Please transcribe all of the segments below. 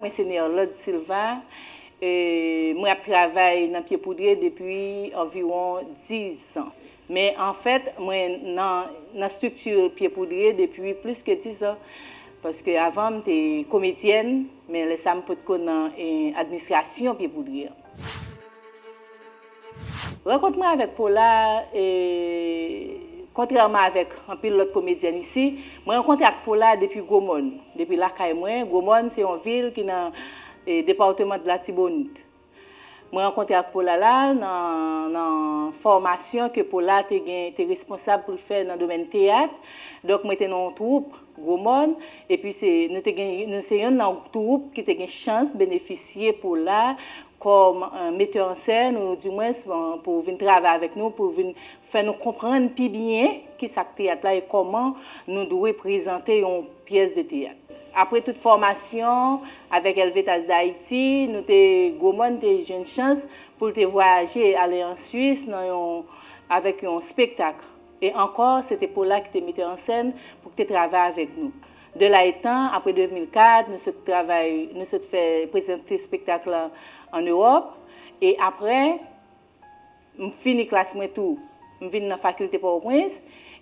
Mwen se Nerlande Silva, mwen ap travay nan Pye Poudre depi anviwon 10 zan. Men an fèt, mwen nan strikti Pye Poudre depi plis ke 10 zan. Paske avan m te komedyèn, men lè sa m potko nan administrasyon Pye Poudre an. Rankont mwen avèk Paula e kontrèman avèk anpil lòt komedyèn isi, mwen rankontre ak Paula depi Gwo Mòn, depi lakay mwen, Gwo Mòn se yon vil ki nan departement Latibonit. Mwen rankontre ak Paula la nan fòmasyon ke Paula te gen te responsab pou l fè nan domèn teyat, donk mwen te nan yon twoup. Gwo Mòn, epi se nou te gen nou se yonn nan twoup ki te gen chans benefisye pou la kòm metè an sèn ou di mwens pou vin travay avèk nou pou vin fè nou konprann pi byen ki sa k teyat la e kòman nou dwe prezante yon pyès de teyat. Apre tout fòmasyon avèk Elvetas Dayiti, nou te Gwo Mòn te jwenn chans pou l te vwayaje ale an Swis nan yon avèk yon spektak. E ankò, se te Pola ki te metè an sèn pou k te travay avèk nou. De la etan, apre 2004, nou sot travay, nou sot fè prezante espektak lan an Ewòp. E apre, m fini klas mwen tou, m vin nan Fakilte Pòtoprens.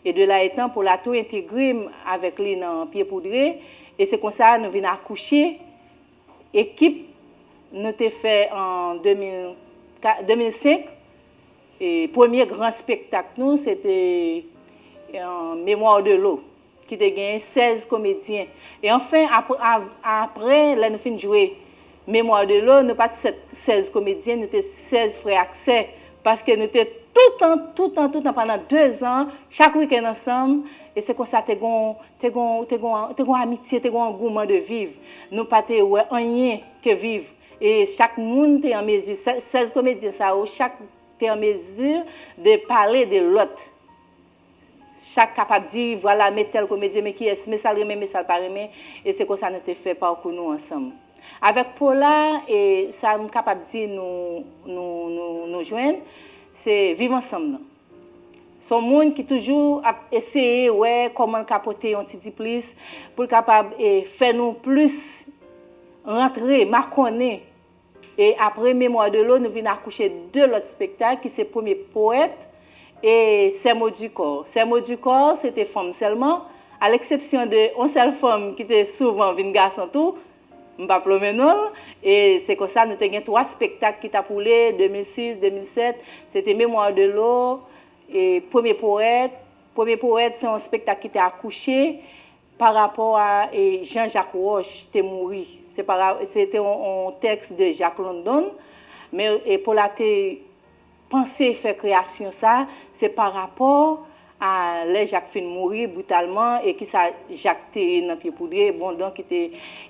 E de la etan, Pola tou entegre m avèk li nan Pye Poudre. E se konsa nou vin akouche ekip nou te fè an 2005. Premye gran spektak nou se te Mémoires de l'eau ki te genyen 16 komedyen. E anfen, apre lè nou fin jwe Mémoires de l'eau, nou pa t 16 komedyen, nou te 16 frè ak sè. Paske nou te toutan, toutan, toutan pandan 2 zan, chak wikenn ansanm. E se konsa te gon, te gon, te gon amitye, te gon angouman de viv. Nou pa te wè anyen ke viv. E chak moun te an mezi, 16 komedyen sa yo, chak te an mezi de pale de lòt. Chak kapab di, vwala me tèl komedyen, me kiyès, me sa l renmen, me sa l pa renmen. E se konsa nou te fè pakou nou ansanm. Avèk Pola, e sa m kapab di nou jwenn, se viv ansanm nan. Son moun ki toujou ap eseye wè kòmanl ka pote yon ti diplis poul kapab e fè nou plis rantre, makonnen e apre Mémoire de l'eau nou vin akouche 2 lòt spektak ki se premye powèt e Sè Mo di Kò. Sè Mo di Kò se te fanm sèlman, a leksepsyon de yon sèl fanm ki te souvan vin gason tou. M pa plomen non l. E se konsa nou te gen 3 spektak ki t ap woule, 2006, 2007, se te Mémoire de l'eau, e Premier Poète. Premier Poète se yon spektak ki te akouche pa rapò a e jan Jacques Roche te mouri. Se pa ra, se te yon tèks de Jacques London, men e Paulate. Panse fè kreyasyon sa, se pa rapò a lè Jak fin mouri britalman e ki sa Jak te ye nan Pye Poudre, bon donk ki te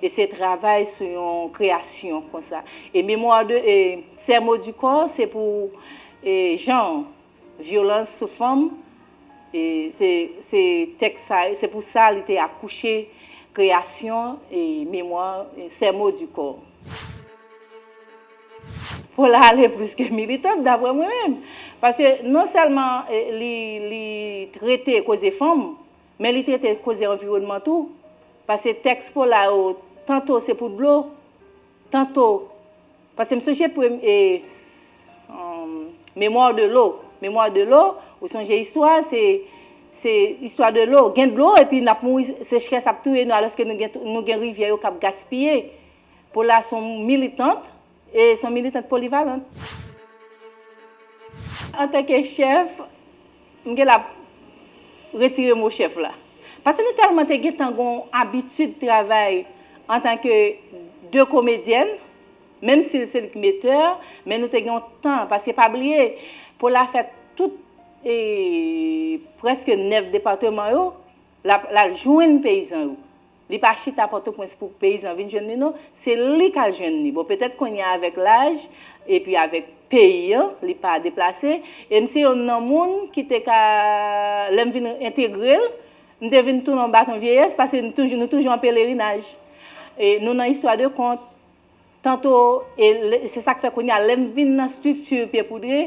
eseye travay sou yon kreyasyon kon sa. E Mémoire de e Ces mots du corps se pou e jan vyolans sou fanm e se se tèks sa se pou sa li te akouche kreyasyon e Mémoire e Ces mots du corps. Paula ale plis ke militant daprè mwen menm. Paske non sèlman li li trete koze fanm, men li trete koze anviwònman tou. Pase tèks Paula yo tanto se pou dlo, tanto Pase m sonje premye e humm Mémoire de l'eau, Mémoire de l'eau ou sonje istwa a se se istwa de l'eau, gen dlo epi n ap mouri sechrès ap touye nou alòske nou gen nou gen rivyè yo k ap gaspiye. Paula son militant e son militant polivalant. Antanke chèf, m gen la retire mo chèf la. Pase nou tèlman te gentan gon abitid travay antanke 2 komedyèn, menm si l se li k metè, men nou te gen yon tan, pase pa bliye Paula fè tout e prèske 9 departeman yo, l al jwenn peyizan yo. Li pa chita pòtoprens pou peyizan vin jwenn li non, se li kal jwenn li, bon petèt kounya avèk laj epi avèk peyi an li pa deplase, e m se yonn nan moun ki te ka lè m vin entegre l m te vin tounen yon baton vyeyès paske nou toujou an pelerinaj, nou nan istwa de kont. Tanto, e se sa k fè kounye a lè m vin nan strikti Pye Poudre,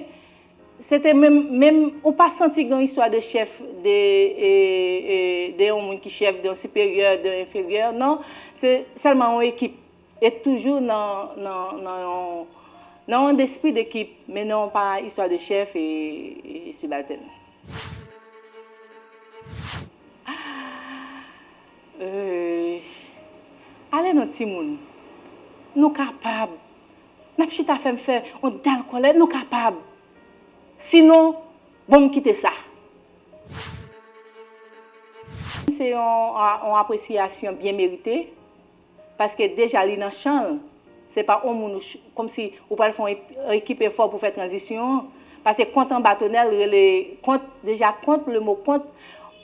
se te menm, menm, ou pa santi gen yon istwa de chèf, de, de yon moun ki chèf, de yon siperyè, de yon enferyè, non, se sèlman yon ekip, e toujou nan, nan, nan yon, nan yon despri dekip, men non pa istwa de chèf e sibaltèn. Euyy ale non timoun nou kapab nap chita fèm fè yon dal kòlè nou kapab sinon bon m kite sa. Se yon apresiyasyon byen merite Paske deja li nan chan l. Se pa on moun ou kòmsi ou pral fè on ekip efò pou fè tranzisyon an. Pase kont anba tonèl rele kont deja kont le mo kont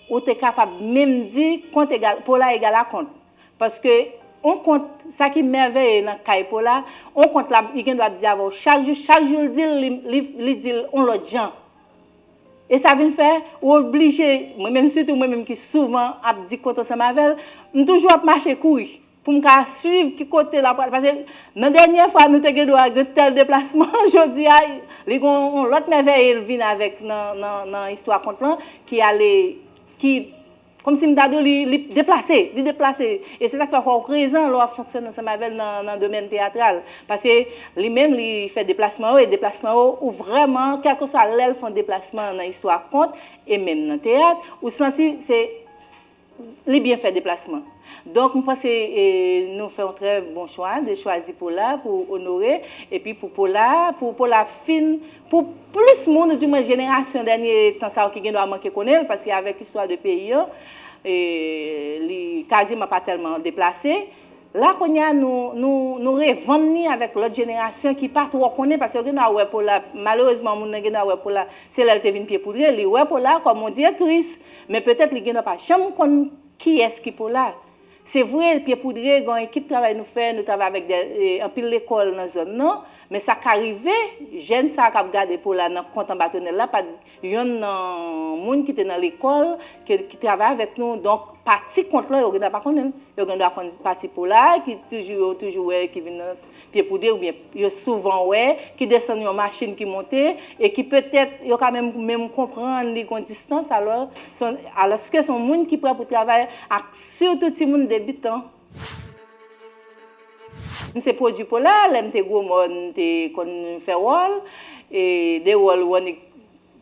ou te kapab menm di kont egal Pola egal a kont. Paske on kont sa ki mèveye nan kay Pola on kont li gen dwa ap di avè w chak jou chak jou l di l li di l on lòt jan. E sa vin fè, ou oblije, mwen menm sitou mwen menm ki souvan ap di kont ansanm avè l, m toujou ap mache kouri pou m ka suiv ki kote l ap pral. Paske nan dènyè fwa nou te gendwa gen tèl deplasman, jodi a, li gen yon lòt mèvèye l vin avèk nan istwa kont lan ki ale, ki. Kòmsi m ta di w li li deplase, li deplase. E se sa k fè fò w prezan lè w ap fonksyone ansanm avè l nan nan domèn teyatral. Paske li menm li fè deplasman yo e deplasman yo ou vrèman kèlkeswa lè l fè yon deplasman nan istwa kont e menm nan teyat ou santi se li byen fè deplasman. Donk m panse e nou fè yon trè bon chwa de chwazi Pola pou Onore epi pou Pola pou Pola fin Pou plis moun, ou di mwen jenerasyon dènye tan sa yo ki gendwa manke konnen l, paske avèk istwa de peyi an, li kaziman pa tèlman deplase, la kounye a nou revann li avèk lòt jenerasyon ki pa twò konnen, paske yo gendwa wè Pola, malerezman moun nan gendwa wè Pola se lè l te vin pyepoudre, li wè Pola kòm yon di ektris, men petèt li gendwa pa janm konn kiyès ki Pola. Se vre, Pye Poudre gen yon ekip travay nou fè, nou travay avèk anpil lekòl nan zòn nan, men sa ka rive, jèn sa a k ap gade pou w la nan kont anba tonèl la pa t yonn nan moun ki te nan lekòl, ki travay avèk nou, donk pati kont lan yo gen dwa pa konnen l. Yo gen dwa konn pati pola a ki toujou yo toujou wè ki vin nan Pye Poudre oubyen yo souvan wè, ki desann yon machin ki monte e ki petèt yo ka menm menm konprann li gon distans alò, alòske se yon moun ki prè pou travay ak. Surtout timoun debutan. M se pwodwi pola, lèm te gwo mòn m te konn fè wòl, e de wòl Wonick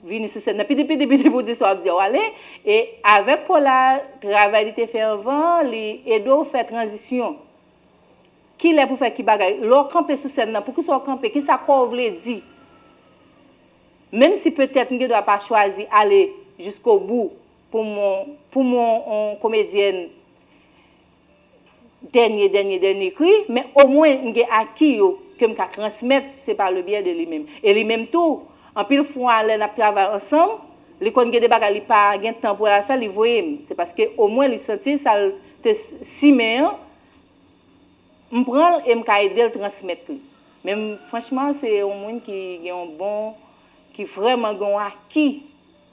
vini sou sèn nan pidi pidi pidi pou w di sa w ap di a w ale, e avèk pola travay li te fè anvan an li ede w fè tranzisyon, kilè pou fè ki bagay, lè w kanpe sou sèn nan poukisa w kanpe, kisa kò w vle di, menm si petèt m gendwa pa chwazi ale jiskobou Pou m pou m on komedyèn dènye dènye dènye kri, men omwen m gen aki yo ke m ka transmèt, se pa le byè de li menm. E li menm tou, anpil fwa lè n ap travay ansanm, li konn gen de bagay li pa gen tan pou l al fè, li voye m. Se paske omwen li santi sa l te simen an, m pran l e m ka ede l transmèt li. Men franchman se on moun ki gen on bon, ki vrèman gen on aki.